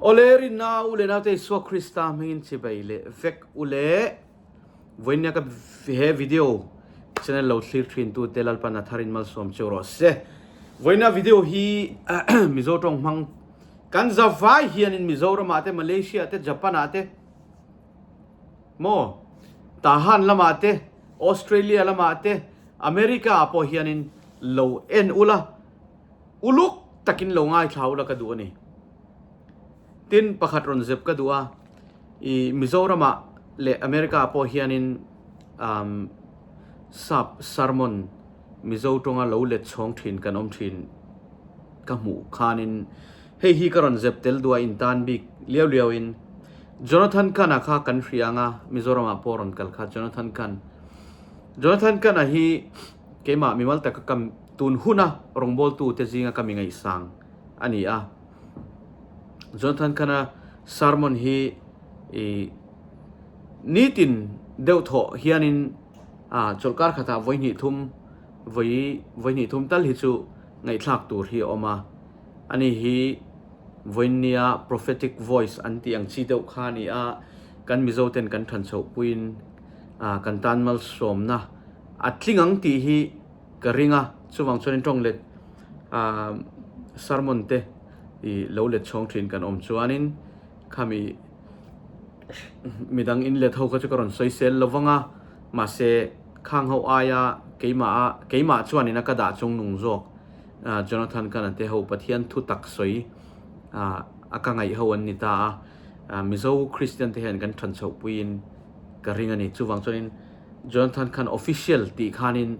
Awle rinna u le naute Isua Krista hmingin chibei leh vek u le. Vawiin nia ka he video channel lo thlir thintu te Lalpan a tharin malsawm cheu rawh se. Vawiin nia video hi Mizo tawng hmang kan za vai hianin Mizoramah te, Malaysia te, Japanah te maw Tahan lamah te, Australia lamah te, America-ah pawh hianin lo en ula. Uluk takin lo ngaithlau la ka duh a ni. Tin, pakhat rawn zep ka duh a, i Mizorama leh America pawh hianin umm sap, sermon, Mizo tawnga lo let chhawng thin kan awm thin ka hmuh khanin hei hi ka rawn zep tel duh a intan bik liau liauin Jonathan Khan-a kha kan hria ang a, Mizorama pawh rawn kal kha Jonathan Khan. Jonathan Khan-a hi keimah mimal taka ka Tun huna rawngbawltute zinga ka mi ngaihsang a ni a. Jonathan Cahna sermon hi nitin deuh thawh hianin chawlhkar khatah vawi hnihthum, vawi vawi hnihthum tal hi chu ngaihthlak tur hi a awm a. Ani hi vawiin nia prophetic voice an tih ang chi deuh kha a ni a, kan Mizo ten kan than chhoh puiin kan tan malsawmna a tling ang tih hi, Ka ring a, chuvang chuan in tawng let aah sermon te i lo let chhawng thin kan awm chuanin khami midang in let ho kha chu ka rawn sawi sel lovang a, mahse khang ho aia keimah a keimah chuan in a ka dah chung nung zawk aah Jonathan ka na te ho Pathian thu tak sawi aah a ka ngaih ho an ni ta a, Mizo Kristian te hian kan than chhoh puiin ka ring a ni chuvang chuan in. Jonathan khan official tih khanin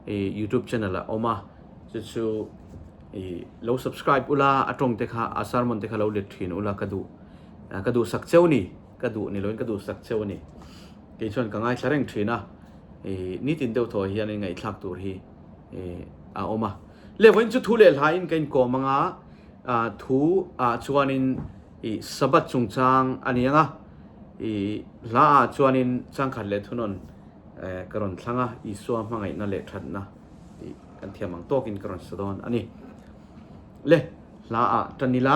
youtube channel a awm a chu chu i lo subscribe ula a tawng te kha a sermon te kha lo let thin ula ka duh ka duh sak cheu ni ka duh ni loin ka duh sak cheu ni kei chuan ka ngai thla reng thin a i ni tin deuh thaw hian ngai thlak tur hi i a awm a le voin chu thu le hlain ka in kawm anga thu a chuan in i Sabbath chungchang a ni ang a, i hla ah chuanin changkhat leh thunawn ka rawn thlang a, Isua hmangaihna leh thatna tih kan thiam ang tawkin ka rawn sa dawn a ni. Le hla ah tan ila.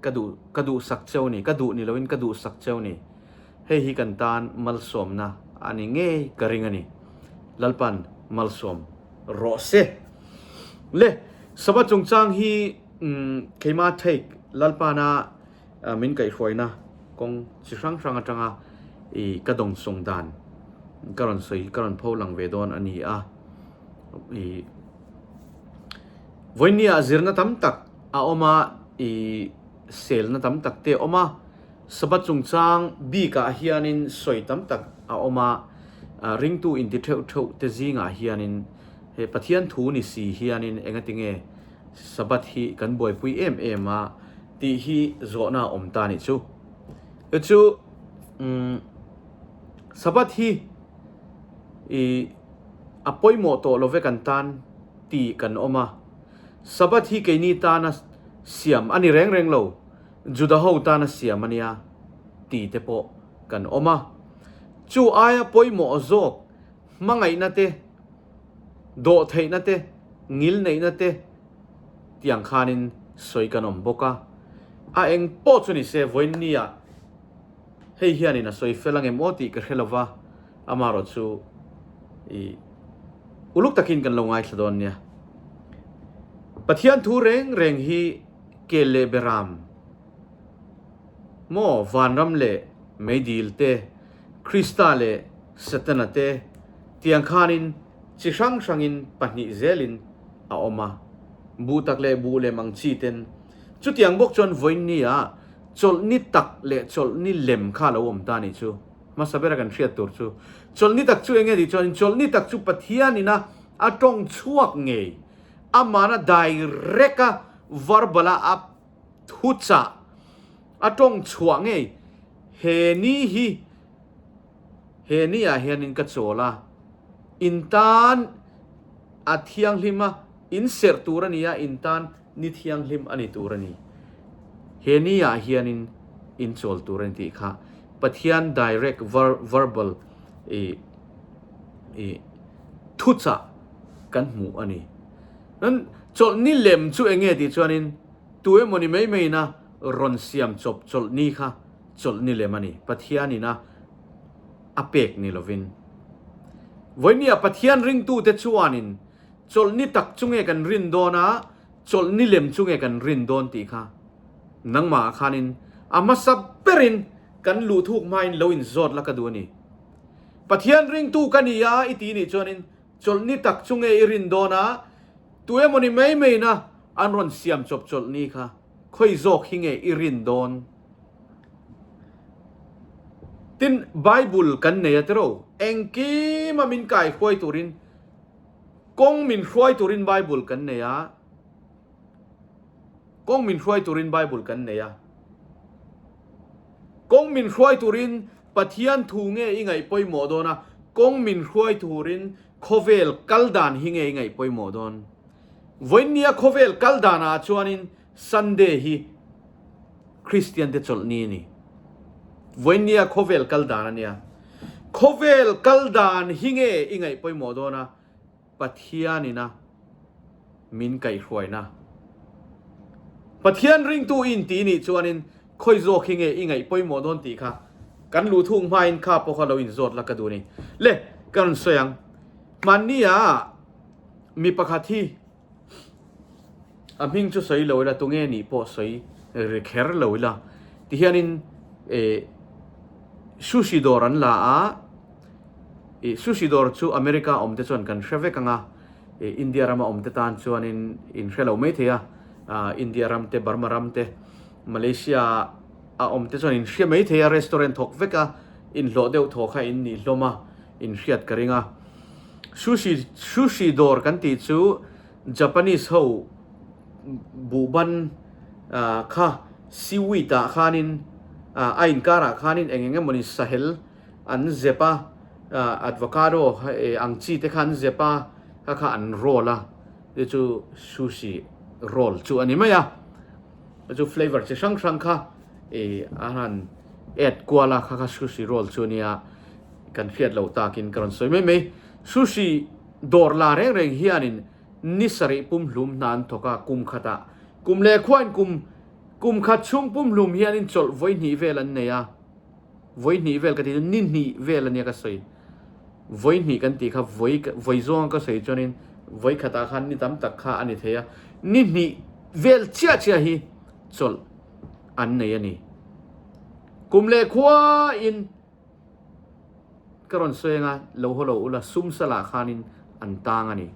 Ka duh, ka duh sak cheu ni, ka duh ni loin ka duh sak cheu ni. Hei hi kan tan malsawmna a ni ngei, ka ring a ni. Lalpan, Malsawm rawh se. Le, Sava chungchang hi keima take Lalpana min kaihhruaina kawng chi hrang hrang atanga i ka dawng sawng dan ka rawn sawi, ka rawn pho lang ve dawn a ni a. I vawinia zirna tam tak a awm a, i selna tam tak te a awm a, Sabbath chungchang bikah hianin sawi tam tak a awm a, ringtu inti theuh theuh te zingah hianin he Pathian thu ni si hianin engatinge Sabbath hi kan buaipui em em a tih hi zawhna a awm ta nih chu. Chu chu um, Sabbath hi i a pawimawh tawh lo vek an tan tih kan awm a, Sabbath hi keini tana siam a ni reng reng lo, Juda ho tana siam a nia ti te pawh kan awm a. Chu aia pawimawh zawk hmangaihna te, dawh theihna te, ngil neihna te tiang khanin sawi kan awm bawk a. A eng pawh chu ni se vawinia, hei hianin a sawi fel angemaw a tih ka hre lova, amaherawh chu i uluk takin kan lo ngaithla dawn nia. Pathian thu reng reng hi kel leh be ram maw, vanram leh meidil te, Krista leh Satana te tiang khanin chi hrang hrangin pahnih zelin a awm a, buh tak leh buh lem ang chi ten Chutiang bawk chuan Vawinia chawlhni tak leh chawlhni lem kha a lo awm ta ni chu hmasa bera kan hriat tur chu. Chawlhni tak chu enge tih chuanin chawlhni tak chu Pathianin a a tawng chhuak ngei, Amahna direct a verbal a a thu chah, a tawng chhuah ngei, he ni hi he ni ah hianin ka chawl a, in tan a thianghlim a, in serh tur a ni a, in tan. Ni thianghlim a ni tur a ni. He ni ah hian in in chawl tur a ni tih kha Pathian direct ver verbal ih ih thu chah kan hmuh a ni. Chuan chawlh ni lem chu eng nge tih chuan in tu emaw ni mai mai ina rawn siam chawp chawlh ni kha chawlh ni lem a ni. Pathian ina a pek ni lovin. Vawinia Pathian ringtu te chuan in. Chawlh ni tak chu nge kan rin dawn a, chawlh ni lem chu nge kan rin dawn tih kha nangmah khanin a hmasa berin kan luhthuk hmain lo inzawt la ka duh a ni. Pathian ringtu ka ni a i ti nih chuanin chawlh ni tak chu nge i rin dawn a, tu emawni mai maina an rawn siam chawp chawlh ni kha khawi zawk hi nge i rin dawn? Tin, Bible kan nei a tiro, engkima min kai huai turin, Kawng min hruai turin Bible kan nei a, kawng min hruai turin Bible kan nei a. Kawng min hruai turin Pathian thu nge i ngaihpawimawh dawn a, kawng min hruai turin khawvel kal dan hi nge i ngaihpawimawh dawn. Vawiin nia khawvel kal danah chuanin Sunday hi Kristian te chawlh ni a ni. Vawinia khawvel kal dan a nia. Khawvel kal dan hi nge i ngaih pawimawh dawn a? Pathian ina min kaih hruaina. Pathian ringtu in ti nih chuanin khawi zawk hi nge i ngaih pawimawh dawn tih kha kan luhthuk hmain kha pawh kha lo in zawt la ka duh ni. Le ka rawn sawi ang. Hmannia mi pakhat hi a hming chu sawi lo ila tunge nih pawh sawi ri kher lo ila tihianin eh sushi dawr an la a eh sushi dawr chu America awm te chuan kan hre vek anga eh India rama awm te tan chuanin in hre lo mai thei a India ram te Burma ram te Malaysia a awm te chuan in hre mai thei a restaurant thawk vek a in hlawh deuh thawk a in nih hlawm a in hriat ka ring a. Sushi sushi dawr kan tih chu Japanese ho buh ban kha seaweed ah khanin a inkar ah khanin eng eng emawni sahel an zep a, avocado ang chi te kha an zep a, kha kha an roll a, te chu sushi roll chu a ni mai a, te chu flavour chi hrang hrang kha a han add kual a, kha kha sushi roll chu a ni a. Kan hriat lo takin ka rawn sawi mai mai. Sushi dawr la reng reng hianin ni sarih pumhlum hna an thawk a, kum khata. Kum leh khuain kum kum khat chhung pumhlum hianin chawlh vawi hnih vel an nei a. Vawi hnih vel ka tih chu ni hnih vel a nia ka sawi. Vawi hnih kan tih kha vawi vawi zawnga ka sawi chuanin vawi khatah khan ni tam tak kha a ni thei a. Ni hnih vel chiah chiah hi chawlh an nei a ni. Kum leh khuain. Ka rawn sawi anga lo haw lo ula, sumsa lah khanin an tang a ni.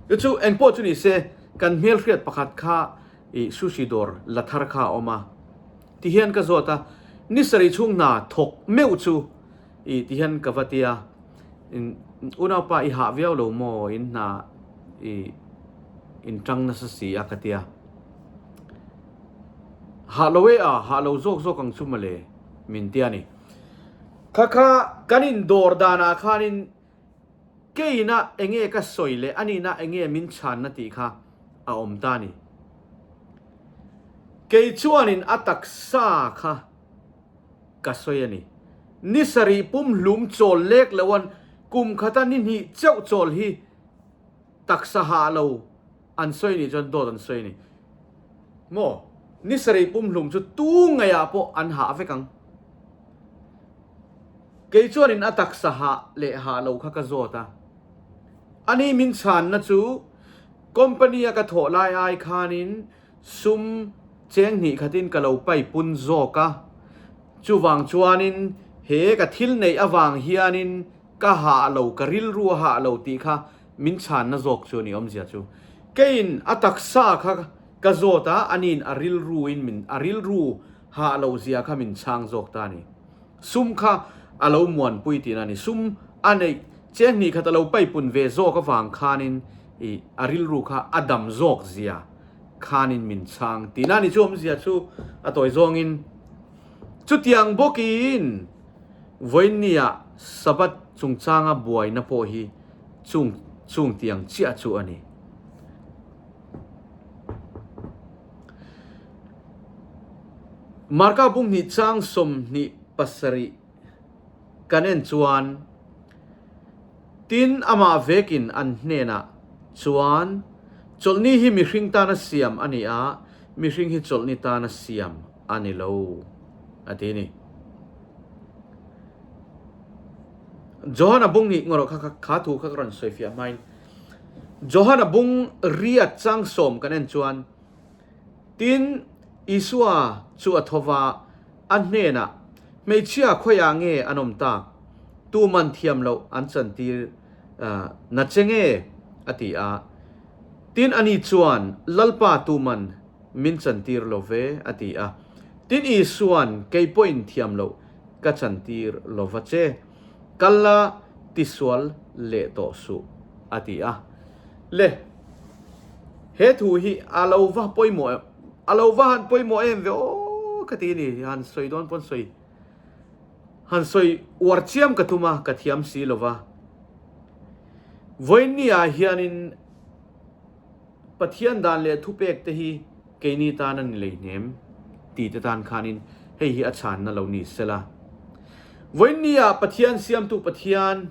Chu chu engpawh chu ni se, kan hmelhriat pakhat kha i sushi dawr la thar kha a awm a ti hian ka zawt a, ni sarih chhung hna thawk meuh chu i ti hian ka va ti a, Unaupa i hah viau lo maw in hna i in tang nasa si a ka ti a, hah lo e a, hah lo zawk zawk ang chu mawle. min tia ni. Kha kha kan in dawr danah khanin keina enge ka sawi leh a nihna enge min chhanna tih kha a awm ta ni. Kei chuanin a taksa kha ka sawi a ni. Ni sarih pum hlum chawl lek lohan kum khata ni hnih cheuh chawl hi taksa hah lo. An sawi nih chuan dawt an sawi ni maw? Ni sarei pumhlum chu tu ngaiah pawh an hah vek ang. Kei chuanin a taksa hah leh hah lo kha ka zawt a. Ani min chhanna chu company-a ka thawh lai ai khanin sum cheng hnih khatin ka lo pai pun zawk a. Chuvang chuanin he ka thil neih avang hianin ka hah lo, ka rilru a hah lo tih kha min chhanna zawk chu a ni awmzia chu keiin a taksa kha ka zawt a, a niin a rilru in min a rilru hah loh zia kha min chhang zawk ta a ni. Sum kha a lo muanpui tihna a ni. Sum a neih che hnih khat a lo paipun ve zawk avang khanin i a rilru kha a dam zawk zia khanin min chhang tihna a ni chu awmzia chu a tawi zawngin chutiang bawkin Vawinia Sabbath chungchanga buaina pawh hi Chung chung tiang chiah chu a ni. Marka Bunghnih Chang Sawmhnih pasarih kan en chuan tin amah vek in an hnenah chuan Chawlhni hi mihring tana siam a ni a, mihring hi chawlhni tana siam. A ni lo, a ti ni. Johan a bung nih ngaw rawh, kha kha kha thu kha ka rawn sawi fiah hmain Johan a bung ria chang sawm kan en chuan tin Isua chu a thova a hnenah hmeichhia khawi ah nge an awm ta? Tu man thiam loh an chan tir na che nge? a ti a, tin ani chuan Lalpa tu man min chantir lo ve, a ti a. Tin Isua'n, Kei pawhin thiam loh, ka chantir lo va che. Kal la, tisual leh tawh suh, a ti a. Le, he thu hi a lo va pawimawh em? A lo va han pawimawh em ve aw ka ti a ni. Han sawi dawn pawn sawi, han sawi uar chiam ka tum a, ka thiam si lo va. Vawinia hianin. Pathian dan leh thupek te hi keini tan a ni lei hnem ti te tan khanin hei hi a chhanna lo ni se la. Vawinia Pathian siamtu Pathian,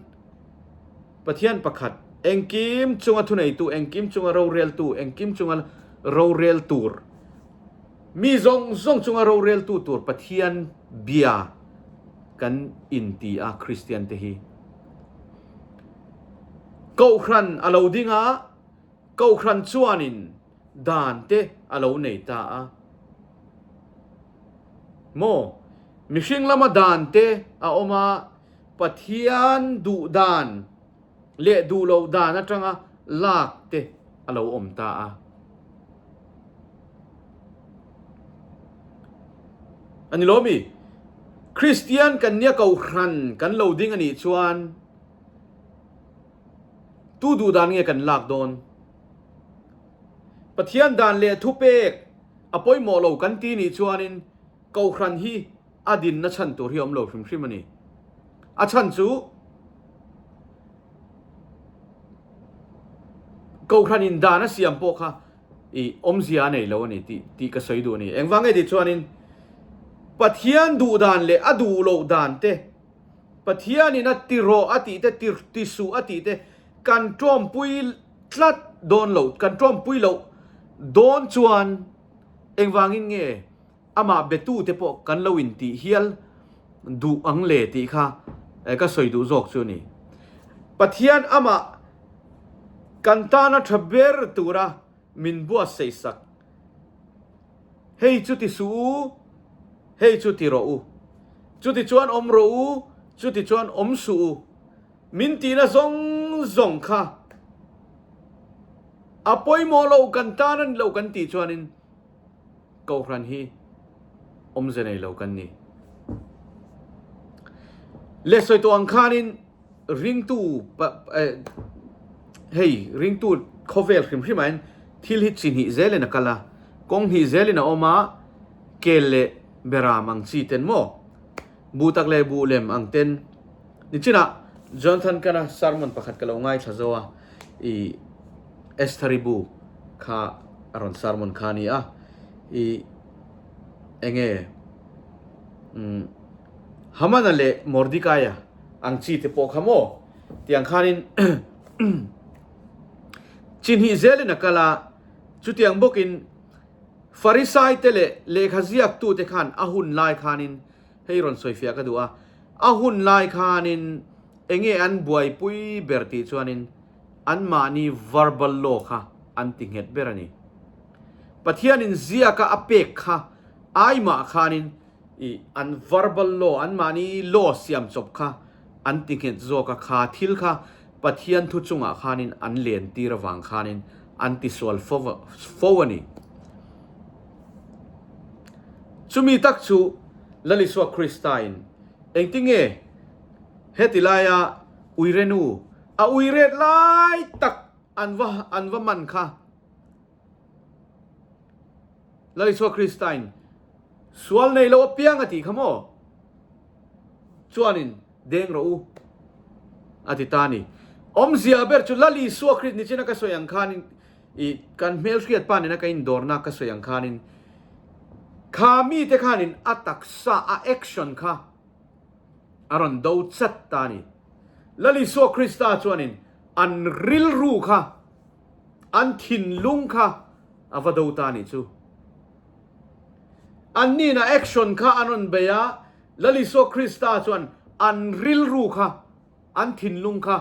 Pathian pakhat, engkim chunga thuneitu, engkim chunga roreltu, engkim chunga rorel tur, mi zawng zawng chunga roreltu tur Pathian bia kan inti a Kristian te hi. Kohhran a lo dingah. Kohhran chuanin dante a lo nei ta a. Maw? Mihring lama dante a awm a, Pathian duh dan leh duh loh dan atanga lak te a lo awm ta a. A ni lomi? Kristian kan nia kohhran kan lo ding a nih chuan, Tu duhdan nge kan lak dawn? Pathian dan leh thupek a pawimawh lo kan ti nih chuanin Kohhran hi a dinna chhan tur hi a awm lo hrim hrim a ni. A chhan chu Kohhranin dan a siam pawh kha i awmzia a nei lo a ni tih tih ka sawi duh a ni. Engvang nge tih chuanin Pathian duhdan leh a duh loh dante, Pathianin a tirawh a tihte, ti ti suh a tihte kan ṭawmpui tlat dawn lo, kan ṭawmpui loh dawn chuan engvangin nge amah betute pawh kan lo intih hial duh ang le tih kha ka sawi duh zawk chu a ni. Pathian amah kan tana ṭha ber tura min buatsaihsak. Hei chu ti suh u, hei chu ti rawh u. Chuti chuan awm rawh u, chuti chuan awm suh u. Min tihna zawng zawng kha a pawimawh lo kan tan a ni lo kan tih chuanin kohhran hi awmze nei lo kan ni. Lehsawituang khanin Ringtu hei ringtu khawvel hrim hrim ahin thil hi chi hnih zelin a kal a, kawng hnih zelin a awm a, kel leh beram ang chi ten maw? Buh tak leh buh lem ang ten. Nichinah Jonathan Cana sermon pakhat ka lo ngaithla zo a, i Estheribu kha a rawn sermon kha a ni a, i enge? Hamana leh Mordekaia ang chi te pawh kha maw? Tiang khanin chi hnih zelin a kal a. Chutiang bawkin Farisai te leh lehkha ziaktu te khan a hun lai khanin hei rawn sawifiah ka duh a, a hun lai khanin enge an buaipui ber tih chuanin, anmahni verbal law kha an ti nghet ber a ni. Pathianin ziaka a pek kha ai mah khanin i an verbal law, anmahni law siam chawp kha an ti nghet zawk a, kha thil kha Pathian thu chungah khanin an lentir avang khanin an ti sual fo fo a ni. Chumi tak chu Lalisua Krista-in engtinge heti laia Uirenu, A ui ret lai tak an va an va man kha Lal Isua Krista in sual nei lo apiang a ti kha maw? Chuanin deng rawh u a ti ta ni. Awmzia ber chu Lal Isua Krist nichin a ka sawi ang khanin i kan hmelhriat pa nena ka indawrnak ka sawi ang khanin kha mite khanin a taksa a action kha a rawn do chat ta ni. Lalisua Krista chuanin an rilru kha, an thinlung kha a va do ta ni chu. An nihna action kha an rawn bei a, Lalisua Krista chuan an rilru kha, an thinlung kha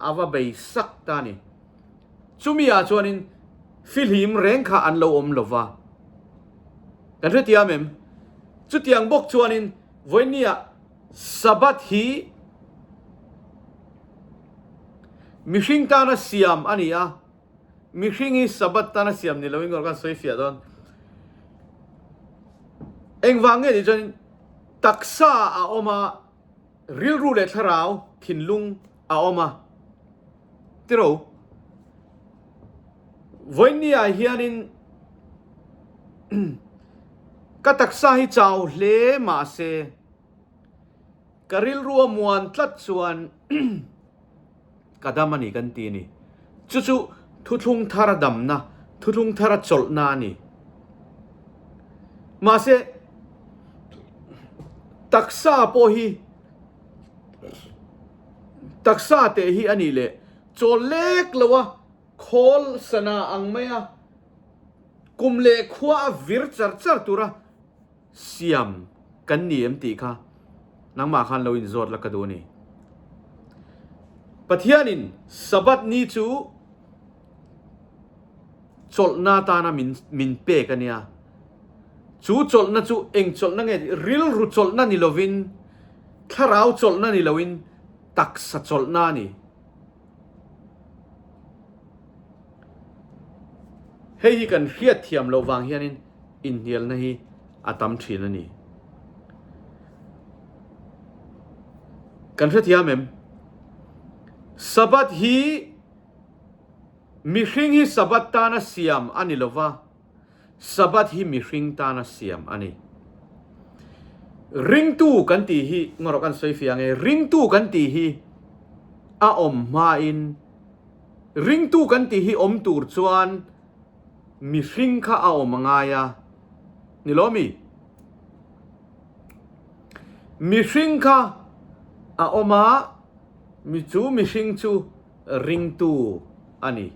a va bei sak ta ni. Chumi ah chuanin fihlim reng kha an lo awm lo va. Kan hre tiam em? Chutiang bawk chuanin Vawinia Sabbath hi mihring tana siam a ni a, mihring hi Sabbath tana siam ni loin kan rawn sawifiah dawn. Engvang nge tih chuan taksa a awm a, rilru leh thlarau thinlung a awm a, Tiro, Voinia hianin ka taksa hi chau hle mahse ka rilrua muan tlat chuan ka dam a ni kan ti a ni. Chu chu thuthlung thar a damna, thuthlung thar a chawlhna a ni. Mahse taksa pawh hi Taksa teh hi a nih leh. Chawl lek lo a khawl sana ang mai a, kum leh khua a vir char char tur a, siam kan ni em tih kha nangmah khan lo in zawt la ka duh a ni. Pathianin Sabbath ni chu. chawlhna atana min min pek a nia chu chawlhna chu eng chawlhna nge tih rilru chawlhna ni lovin thlarau chawlhna ni loin taksa chawlhna ni hei hi kan hriat thiam lo vang hianin inhnialna hi a tam thin a ni kan hre thiam em sabat hi Mihring hi Sabbath tana siam a ni lo va, Sabbath hi mihring tana siam a ni. Ringtu kan tih hi ngarawh kan sawi fiang e, ringtu kan tih hi a awm hmain ringtu kan tih hi awm tur chuan mihring kha a awm a ngai a ni lo mi? Mihring kha a awm a, mi chu mihring chu. Ringtu a ni.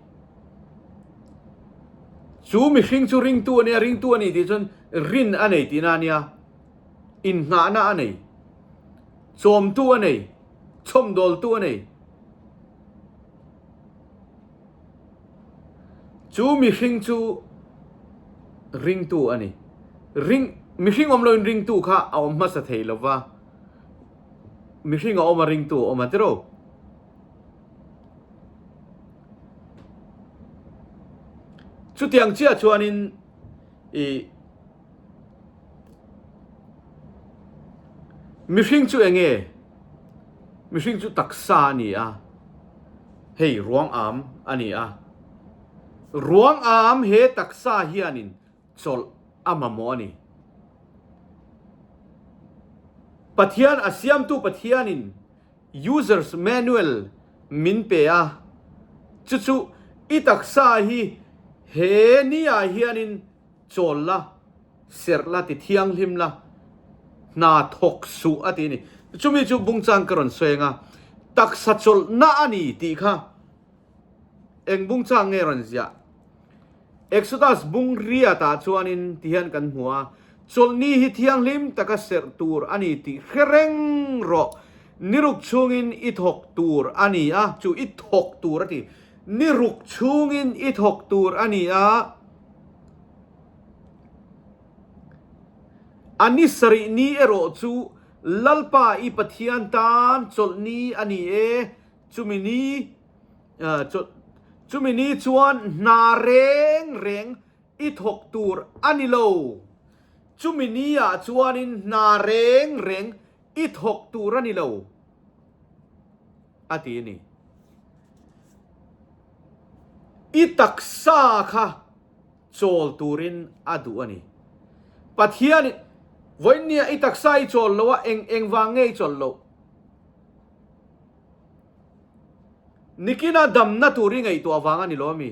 Chu mihring chu ringtu a nia, ringtu a ni tih chuan rin a nei tihna a nia. Innghahna a nei. Chawmtu a nei. Chawmdawltu a nei. Chu mihring chu ringtu a ni. Ring, mihring awm loin ringtu kha a awm hmasa thei lova. Mihring a awm a ringtu a awm a tiraw. chutiang chiah chuanin i mihring chu eng nge mihring chu taksa a ni a hei ruang am a ni a ruang am he taksa hianin chawlh a mamawh a ni pathian a siamtu pathianin Users Manual min pe a, chu chu i taksa hi he ni ah hianin chawl la, serh la ti thianghlim la, hna thawk suh a ti a ni. Chumi chu bung chan ka rawn sawi anga taksa chawlh na a ni tih kha Eng bungchang nge rawn ziah? Exodus bung riatah chuanin ti hian kan hmu a, Chawlhni hi thianghlim taka serh tur a ni tih hre reng rawh. Ni ruk chhungin i thawk tur a ni a, chu i thawk tur a ti. Ni ruk chhungin i thawk tur a ni a. A ni sarih ni erawh chu Lalpa i Pathian tan chawlhni a ni e. Chumi ni chumi ni chuan hna reng reng i thawk tur a ni lo. Chumi ni ah chuanin hna reng reng i thawk tur a ni lo a ti a ni. I taksa kha chawl turin a duh a ni. Pathianin vawiin nia i taksa i chawl lo a, eng eng vang nge i chawl loh? Nikina damna tur i ngaihtuah avang a ni lo a mi?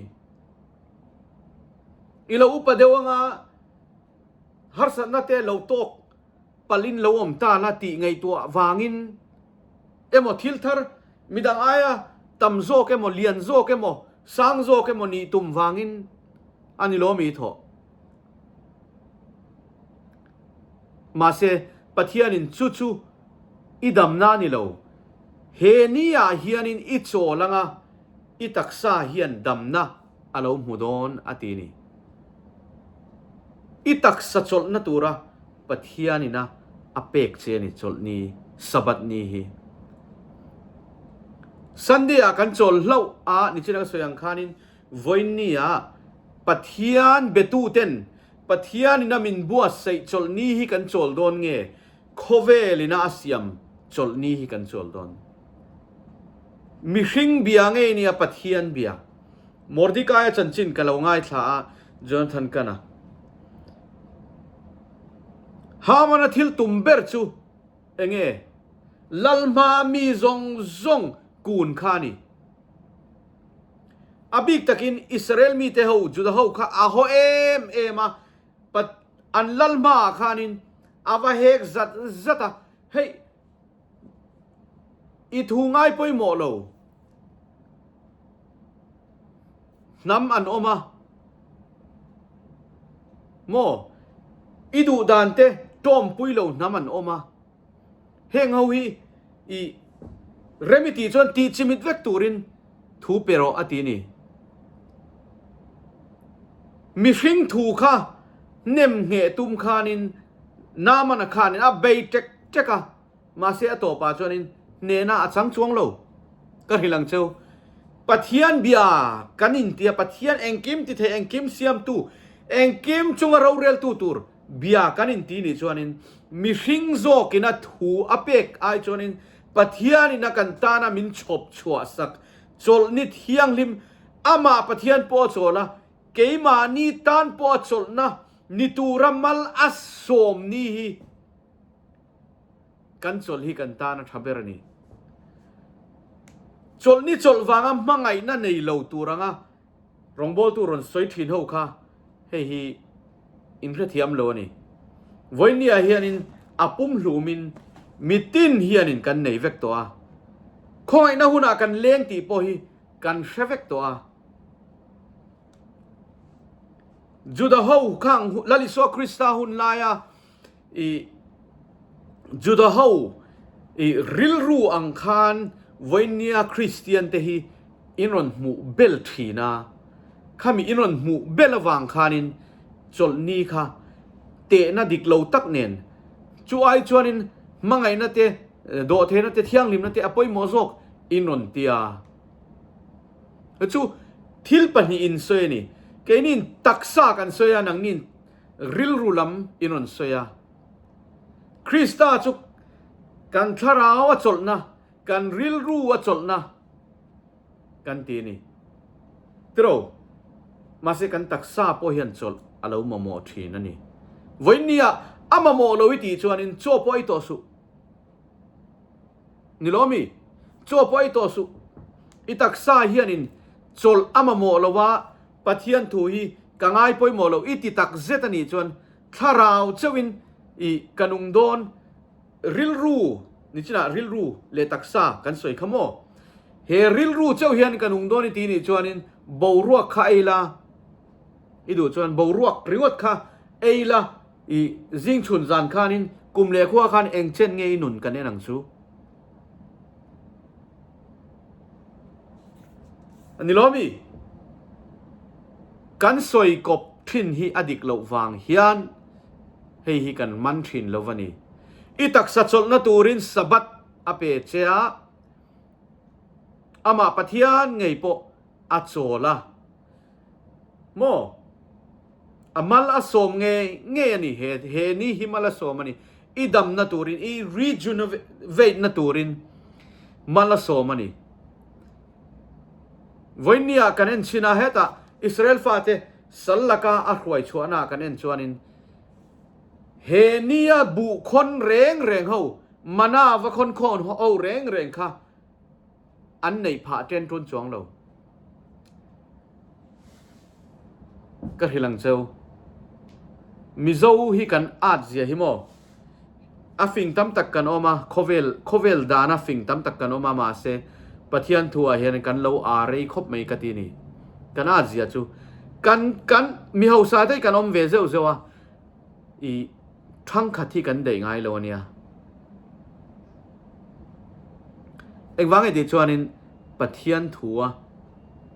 I lo upa deuh anga harsatna te lo tawk palhin lo awm ta la tih ngaihtuah vangin emaw thil thar midang aia tam zawk emaw lian zawk emaw sang zawk emaw nih tum vangin a ni lo a mi thawh. Mahse, Pathianin chu chu i damna a ni lo. He ni ah hianin i chawl anga i taksa hian damna a lo hmu dawn a ti ni. I taksa chawlhna tura Pathianin a a pek che a ni chawlhni Sabbath ni hi. Sunday ah kan chawl hlauh a nichin a ka sawi ang khanin Vawinia Pathian biatuten Pathianin a min buatsaih chawlhni hi kan chawl dawn nge? Khawvelina a siam chawlhni hi kan chawl dawn. Mihring bia ngei nia Pathian bia. Mordekaia chanchin ka lo ngaithla a, Jonathan Kana. Hamana thil tum ber chu enge? Lalhma mi zawng zawng kun kha a ni. A bik takin Israel mite ho, Juda ho kha a haw em em a. Pat an lal hmaah khanin a va hek zat zat a, Hei, i thu ngai pawimawh lo. Hnam an awm a maw? I duhdan te ṭawmpui lo hnam an awm a. heng ho hi i remi tih chuan tih chimit vek turin thu peraw a ti ni mihring thu kha nem nge tum khanin namana khanin a bei tek tek a mahse a tawpa chuanin nena a chang chuang lo ka hrilang cheu pathian bia kan intia pathian engkim ti thei engkim siam tu engkim chunga rorel tu tur Bia kan inti nih chuanin mihring zawkina thu a pek ai chuanin Pathianina kan tana min chhawp chhuah sak chawlhnit thianghlim amah Pathian pawh a chawl a, keimahni tan pawh a chawlhna ni tura mal a sawm ni hi kan chawlh hi kan tana tha ber a ni. Chawlh ni chawlh vanga hmangaihna nei lo tur anga. Rawngbawltu rawn sawi thin ho kha hei hi inhrethiam lo a ni. Vawinia hianin a pum hlumin mitin hianin kan nei vek tawh a, khawngaihna hunah kan leng tih pawh hi kan hre vek tawh a. Juda ho khang Lalisua Krista hun laia ih Juda ho ih rilru ang khan Vawinia Kristian te hi in rawn hmuh bel thin a, khami in rawn hmuh bel avang khan in chawlhni kha tehna dik lo tak nen chu ai chuan in hmangaihna te, dawhthena te, thianghlimna te a pawimawh zawk in rawn ti a. Chu thil pahnih in sawi a ni, keini in taksa kan sawi a, nangni in. rilru lam i rawn sawi a. Krista chu kan thlarau a chawlhna, kan rilru a chawlhna kan ti a ni. Tiraw, mahse kan taksa pawh hian chawlh a lo mamawh thin a ni. Vawinia a mamawh lo i tih chuanin chaw pawh ei tawh suh. Ni loh ami? Chaw pawh ei tawh suh. I taksa hianin chawlh a mamawh lova Pathian thu hi ka ngai pawimawh lo i ti tak zet a nih chuan thlarau chauhin i ka nung dawn. Rilru nichinah rilru leh taksa kan sawi kha maw? He rilru chauh hian ka nung dawn i ti nih chuanin boruak kha ei la i duh chuan boruak ringawt kha ei la i zing chhun zan khanin kum leh khua khan engchen nge i nun kan en ang chu? Ani lo mi? Kan sawi kawp thin hi a dik loh vang hian hei hi kan man thin lo a ni. I taksa chawlhna turin Sabbath a pe che a, amah Pathian ngei pawh a chawl a. Maw? A mal a sawm ngei ngei a ni. He he ni hi mal a sawm a ni. I damna turin, i rejuvenate-na turin mal a sawm a ni. Vawinia kan en chhina hetah Israel fate sal laka a hruai chhuahna kan en chuanin he nia buh khawn reng reng ho, manna va khawn khawn ho reng reng kha, an neih phah a ṭen ṭun chuang lo. Ka hrilh ang cheu. Mizo hi kan art zia hi maw? A fing tam tak kan awm a, khawvel, khawvel dana fing tam tak kan awm a, mahse Pathian thuah hian kan lo art rei khawp mai ka ti ni. Kan art zia chu kan, kan, mi hausa te hi kan awm ve zeuh zeuh a. I thangkhat hi kan dei ngai lo a nia. Engvang nge tih chuanin Pathian thua,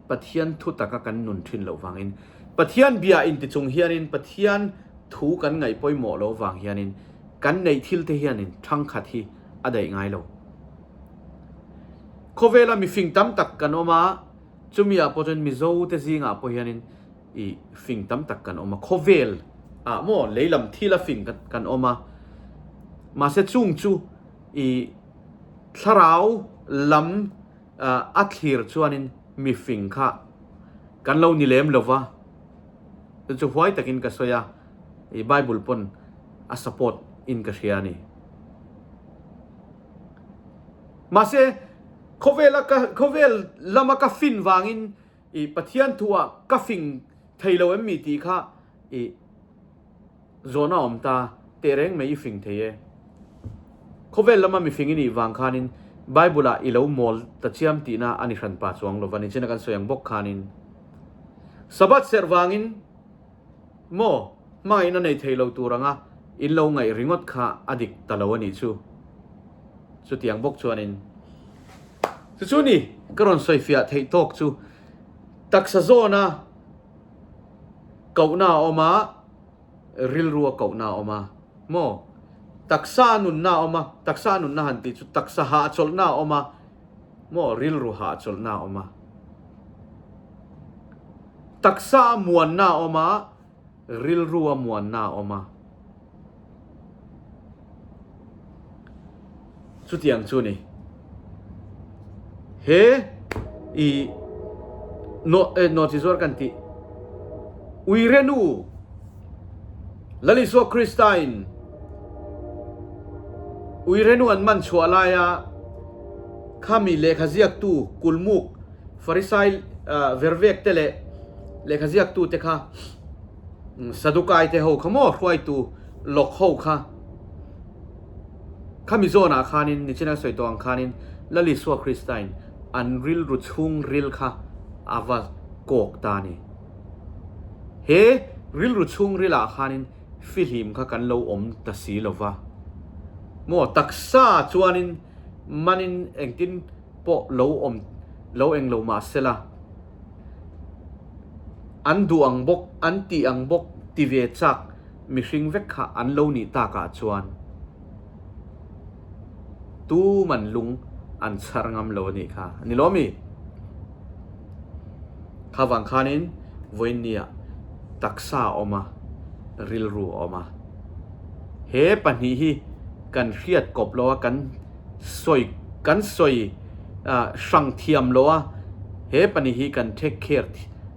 Pathian thu taka kan nun thin loh vangin, Pathian bia in tichung hianin Pathian thu kan ngaih pawimawh lo vang hianin kan neih thil te hianin thangkhat hi a dei ngai lo. Khawvela mifing tam tak kan awm a, chumi ah pawh chuan Mizote zingah pawh hianin, i fing tam tak kan awm a, khawvel ah maw lei lam thil a fing kan awm a, mahse chung chu i thlarau lam a thlir chuanin mi fing kha kan lo ni lem lo va, chu chu huai takin ka sawi a, i Bible pawn a support in ka hria a ni. Mahse khawvel a ka khawvel lam a ka fin vangin i Pathian thu ah ka fing thei lo em mi tih kha i zawn a awm ta, teh reng mai i fing thei e. Khawvel lama mi fing i nih vang khan in Bible ah i lo mawl ta chiam tih na a ni hran pa chuang lo va ni chin a kan sawi ang bawk khan in Sabbath serh vang in, Maw? Hmangin a nei thei lo tur anga in lo ngaih ringawt kha a dik ta lo a nih chu. Chutiang bawk chuanin, Chu chu ni, ka rawn sawifiah theih tawk chu. Taksa zawna kohna a awm a, rilrua kohna a awm a. Maw? Taksa a nunna a awm a, taksa a nunna han tih chu taksa hahchawlhna a awm a. maw rilru hah chawlhna a awm a, taksa a muanna a awm a, rilru a muanna a awm a. Chutiang chu ni. He i no no chi zuar kan ti. Uirenu Lalisua Krista-in Ui Renu an man chhuah laia khami lehkha ziaktu kulmuk Farisai vervekte leh lehkha ziaktute kha Sadukaite ho kha maw hruaitu lawk ho kha khami zawnah khanin nichin a sawi tawh ang khanin Lalisua Krista-in an rilru chhungril kha a va kawk ta a ni. He rilru chhung rilah khanin fihlim kha kan lo awm ta si lo va. Maw taksa chuanin manin engtin pawh lo awm lo eng lo mah sela an duh ang bawk, an tih ang bawk ti ve chak mihring vek kha an lo nih takah chuan, tu man lung an chhar ngam lo anih kha ani lo ami? Kha vang khanin vawinia taksa a awm a, rilru a awm a, he pahnih hi kan hriat kawp lo a, kan sawi kan sawi hrang thiam lo a, he pahnih hi kan take care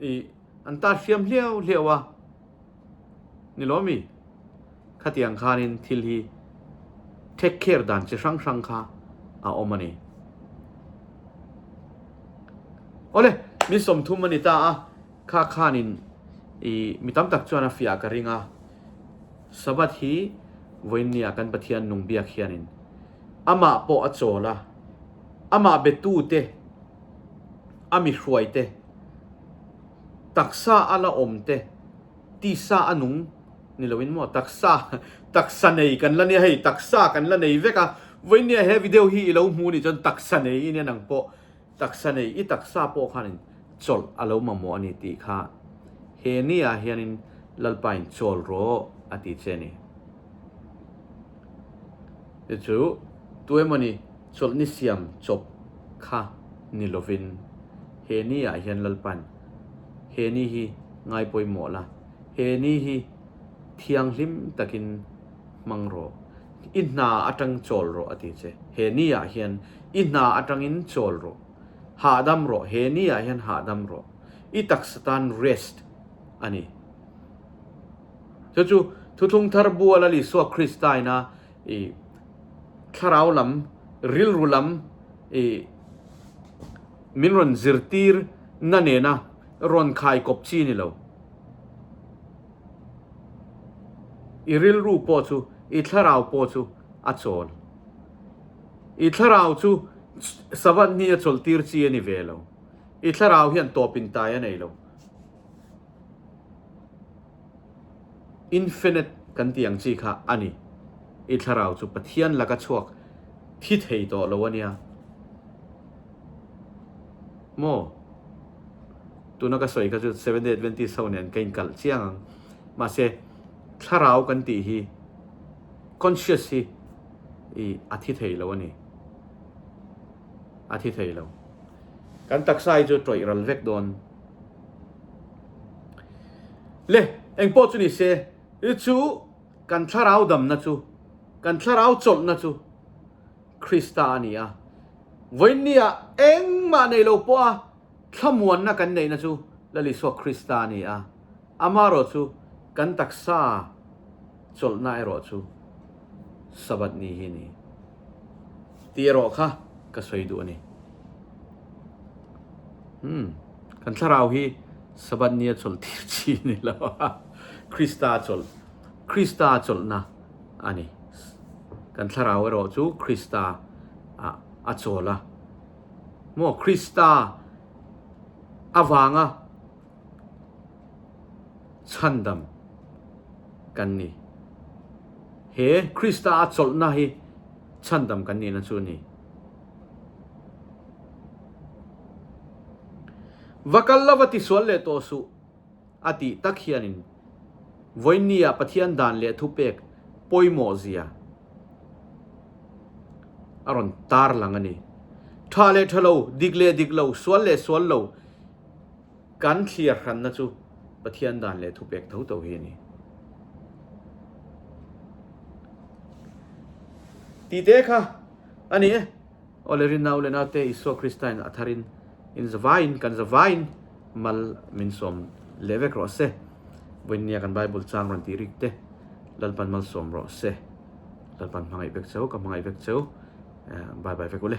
i an tar hriam hliau hliau a ni lo mi khatiang khan in thil hi take care dan chi hrang hrang kha a om ani ole mi som thum ani ta a kha khan in i mi tam tak chuan a fia ka ringa sabat hi voin nia kan pathian nung biak hian in ama po a chaw la Amah betute, a mihruaite, taksa a la awmte, tisa a nung ni loin maw? Taksa, taksa nei kan la nia hei, taksa kan la nei vek a. Vawinia he video hi i lo hmuh nih chuan taksa nei i nia nang pawh. Taksa nei, i taksa pawh khanin chawlh a lo mamawh a ni tih kha he ni ah hianin Lalpain chawl rawh a ti che a ni. Te chu tu emaw ni chawlh ni siam chawp kha ni lovin he ni ah hian Lalpa'n he ni hi ngai pawimawh la, he ni hi thianghlim takin hmang rawh, i hna atang chawl rawh a ti che. He ni ah hian i hna atangin chawl rawh, hahdam rawh, he ni ah hian hahdam rawh, i taksa tan rest a ni. Chu chu thuthlung thar bual a Isua Krista ina i thlarau lam, rilru lam i min rawn zirtir na nena rawn khai kawp chi ni lo. I rilru pawh chu, i thlarau pawh chu a chawl. I thlarau chu Savat hnia chawlhtir chi a ni ve lo. I thlarau hian tawpin tai a nei lo. Infinite kan tih ang chi kha a ni. I thlarau chu Pathian laka chhuak thi thei tawh lo a nia maw? Tuna ka sawi kha chu Seventh Day Adventist ho nen ka inkalh chiang ang. Mahse, thlarau kan tih hi, conscious hi, i a thi thei lo a ni. A thi thei lo. Kan taksa hi chu tawih ral vek dawn. Le engpawh chu ni se, i chu kan thlarau damna chu, kan thlarau chawlhna chu Krista a ni a. Vawinia engmah nei lo pawha thlamuanna kan neihna chu Lalisuak Krista a ni a. Ama erawh chu kan taksa chawlhna erawh chu Sabbath ni hi a ni. ti erawh kha ka sawi duh a ni. Hmm, kan thlarau hi Sabat nia chawlh tir chi a ni lo a, Krista chawlh, Krista chawlhna a ni. Kan thlarau erawh chu Krista a, a chawlh a. Maw Krista avanga chhandam kan ni. He Krista a chawlhna hi chhandam kan nihna chu a ni. Va kal lo va tisual leh tawh suh a tih tak hianin Vawinia Pathian dan leh thupek pawimawhzia a rawn tarlang a ni. Tha leh tha lo, dik leh dik lo, sual leh sual lo Kan thliar hranna chu Pathian dan leh thupek tho tho hi a ni. Tite kha a ni e. Aw le rinau le naute Isua Krista-in a tharin in zavaiin, kan zavaiin mal min sawm leh vek rawh se. Vawiin nia kan Bible chang rawn tih rikte lalpan malsawm rawh se. Lalpan hmangaih vek cheu, ka hmangaih vek cheu. Bye bye vek u le.